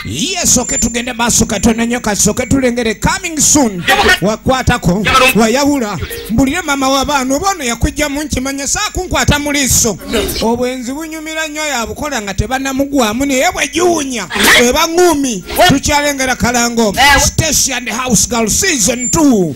Yes, okay, tugende maaso katono nnyo kasooke tulengere coming soon wakwatako wayawula mbulire maama w'abaana oba ono yakujjamu nkimanya saakunkwata mu liiso obwenzi bunyumira nnyo yabukola nga tebanamugwamu naye bwegiwunya ebaŋumi tukyalengera kalango station house girl season 2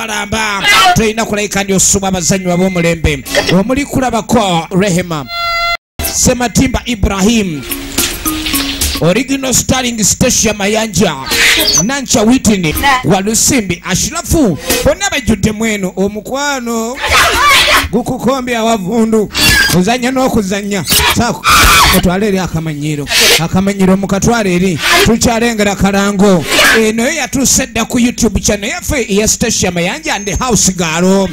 balamba tulina kulabika ndi osuma abazannyi bab'omulembe omuli kulabako rehema sematimba ibrahim original starling stacia mayanja nanca witini walusimbi ashirafu bonna bajjudde mweno omukwano gukukombya awavundu kuzanya n'okuzanya saako mutwale eri akamanyiro akamanyiro mukatwale eri tukyalengera kalango eno yo yatuuse dda ku youtube channel ffe eya stasia mayanja nde house gaalo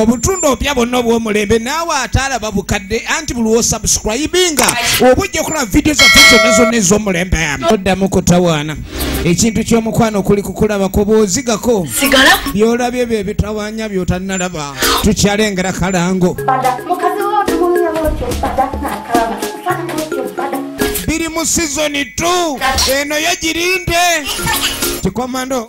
obutundu obupya bonna obwomulembe naawe ataalaba bukadde anti buli wosubscribinga oba ojja okulaba vidiyo zaffe zonna zonna ez'omulembe oddamu kutawaana ekintu ky'omukwano kuli kukulabako bwozigako byolabye bye bitawanya byotannalaba tukyalengera kalango biri mu sizoni 2 eno yo girinde kikomando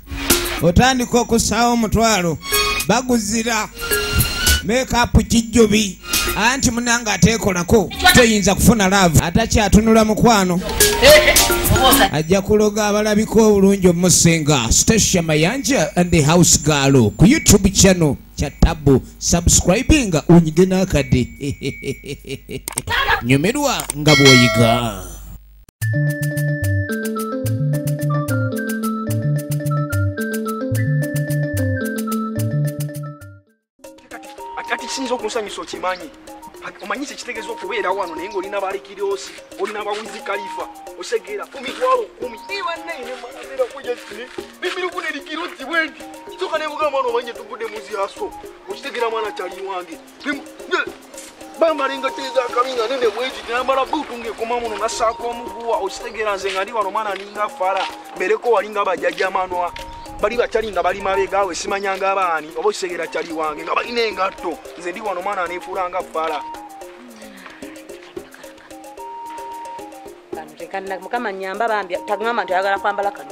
otandika okusaawo omutwalo baguzira mekapu kijjubi anti munange ateekolako toyinza kufuna laavu atakyatunula mukwano ajja kuloga abalabika obulungi omusinga stacia mayanja and the house gaalo ku youtube channel kya tabu subscribing unyige n'akadde nyumirwa nga bw'oyiga kati kisinza okunsanyusa okimanyi omanyi kyekitegeeza okubeera wano naye ngaolina balikiriosi olina bawizi kalifa osegeera ku mitwalo kumi iwanneenemirukuna erikirozi bwendi soka nebuga mwana omanye tuvudde muziaso okitegeera mwana kyali wange bambala engatto ezakabi nga nene bweki nambala buutu ngaekoma muno nasaako omuguwa okitegeera nze nga ndi wano omwana aninga fala mbereko wali nga bajajamanwa bali bakyali nga bali mabegaawe simanyanga abaani oba okitegeera kyali wange nga balina engatto nze ndi wano omwana anefuula nga fala mukama nyamba bambi tagamba nti ayagala kwambala kano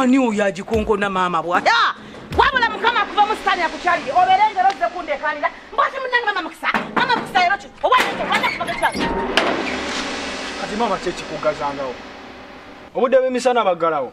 ani oyo agikonkona maama bwata wabula mukama kuva musitani akukyalire obeere ngero zze kundekanira mbwati munange mama mukisa mama mukisa lero ki owaeakubagekyali kati maama kyekikugazangawo obudde bwemisana baggalawo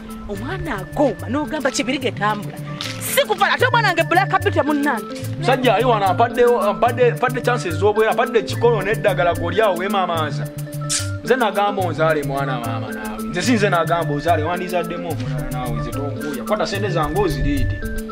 omwana agomba nogamba kibirige tambula sikufala ate omwana nge black bite munange musajja ali wano apadde chances zobwera apadde ekikolo neddagala golyawo wemamaaza nze nagamba onzaale mwana maama naawe nze sinze nagamba ozaale wandizaddemu omulala naawe nze tonkuuya kwata sente zange oziriide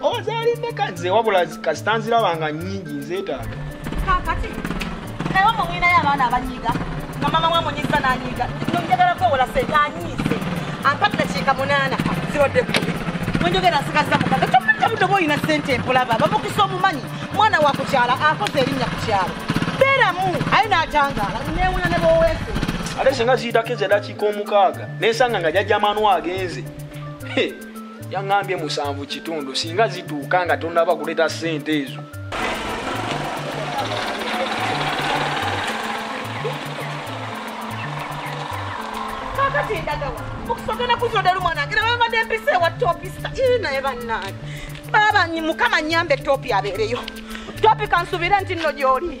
ozaali meka nze wabula kasita nziraba nga nyingi nzeetaaga kakati ewa mumwinayo abaana abanyiga nga mama wamunyiza nanyiga njagala kwewola sente anyiise ampati nakiika munaana ziwadde kubi wenjogera nsigaza mukaga kyokka mutoba olina sente empulaba bamukisa omumanyi mwana wa kukyala akoze erinnya ku kyalo beeramu aye n'atangaala newunya ne bowese ate singa ziyitako ezadakiika omukaaga nensanga nga jajja manu agenze yaŋambye musanvu kitundu singa zituuka nga tonaba kuleeta sente ezo okusogana kuzodalu mwana ngira babadde mpisa ewa topista ii naye bannange baba mukama nyambe topi abeereyo topi kansubire nti nno gyoli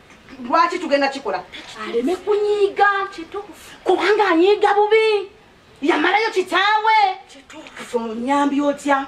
lwaki tugenda kikola aleme kunyiiga kubanga anyiiga bubi yamalayo kitaawe onyambi otya